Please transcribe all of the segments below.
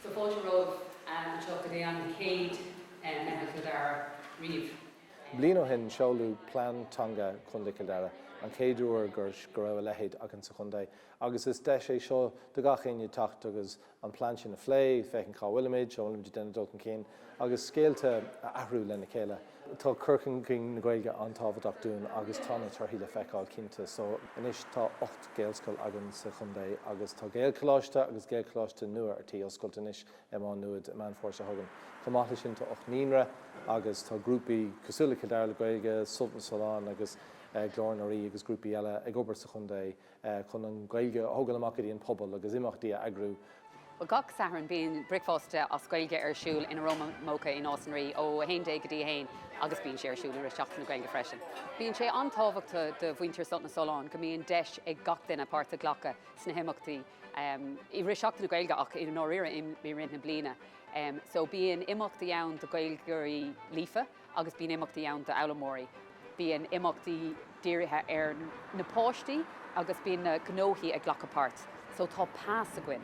Tá fáilte romhaibh anseo go dtí an chéad Meitheal Chill Dara riamh. Bliain ó shin seoladh Plean Teanga Chontae Chill Dara, an chéad uair go raibh a leithéid againn sa chontae agus is deis í seo do gach éinne teacht agus an plean sin a phlé, féachaint cá bhfuilimid, an bhfuilimid ag déanamh dul chun cinn, agus scéalta a mhalartú lena chéile. Tá cur chun cinn na Gaeilge an-tábhachtach dúinn agus tá na torthaí le feiceáil cinnte. So, anois tá ocht Gaelscoil againn sa chontae agus tá Gaelcholáiste agus Gaelcholáiste nua ar tí oscailt anois i Maigh Nuad i Meán Fómhair seo chugainn. Chomh maith leis sin tá ocht naíonra agus tá grúpaí cosúil le Cill Dara le Gaeilge, Sult na Sollán agus Glór na Ríogh agus grúpaí eile ag obair sa chontae chun an Ghaeilge a thógáil amach go dtí an pobal agus imeachtaí a eagrú. Gach Satharn bíonn bricfeasta as Gaeilge ar siúl in Aroma Mocha i Nás na Ríogh ó 11 go dtí 1 agus bíonn sé ar siúl i rith Seachtain na Gaeilge freisin. Bíonn sé an-tábhachtach do mhuintir Sult na Sollán go mbíonn deis ag gach duine páirt a ghlacadh sna himeachtaí i rith Seachtain na Gaeilge ach i ndáiríre i rith na bliana. So bíonn imeachtaí ann do Ghaeilgeoirí líofa. agus bíonn imeachtaí ann d'fhoghlaimeoirí. Bíonn imeachtaí dírithe ar na páistí agus bíonn na gnóthaí ag glacadh páirt. So tá pas againn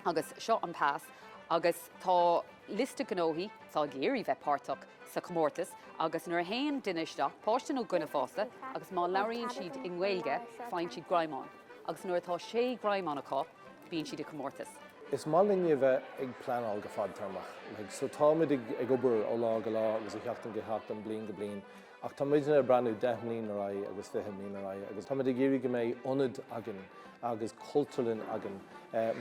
agus seo an pas agus tá liosta gnóthaí atá ag iarraidh bheith páirteach sa chomórtas agus nuair a théann duine isteach, páiste nó duine fásta, agus má labhraíonn siad i nGaeilge faigheann siad greamán agus nuair atá sé ghreamán acu, bíonn siad i gcomórtas. Is maith linne a bheith ag pleanáil go fadtéarmach. Like so táimid ag, ag obair ó lá go lá agus ó sheachtain go seachtain, bliain go bliain ach tá muidne ag breathnú deich mbliain ar aghaidh agus fiche mbliain ar aghaidh agus táimid ag iarraidh go mbeidh ionad againn agus cultúrlann againn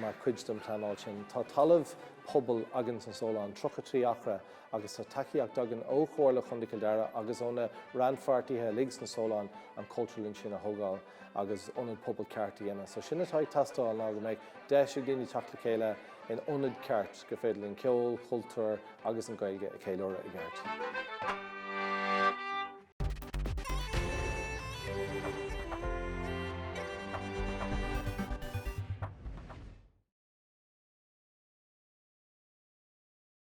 mar chuid den phleanáil sin. Tá talamh pobail againn sna Solláin, 33 acra agus tá tacaíocht againn ó Chomhairle Chontae Chill Dara agus ó na rannpháirtithe uilig sna Solláin an chultúrlann sin a thógáil. agus ionad pobail ceart a dhéanamh. So sin atá ag teastáil ná go mbeidh deis ag daoine teacht le chéile in ionad ceart gur féidir linn ceol, cultúr agus an Ghaeilge a cheiliúradh i gceart.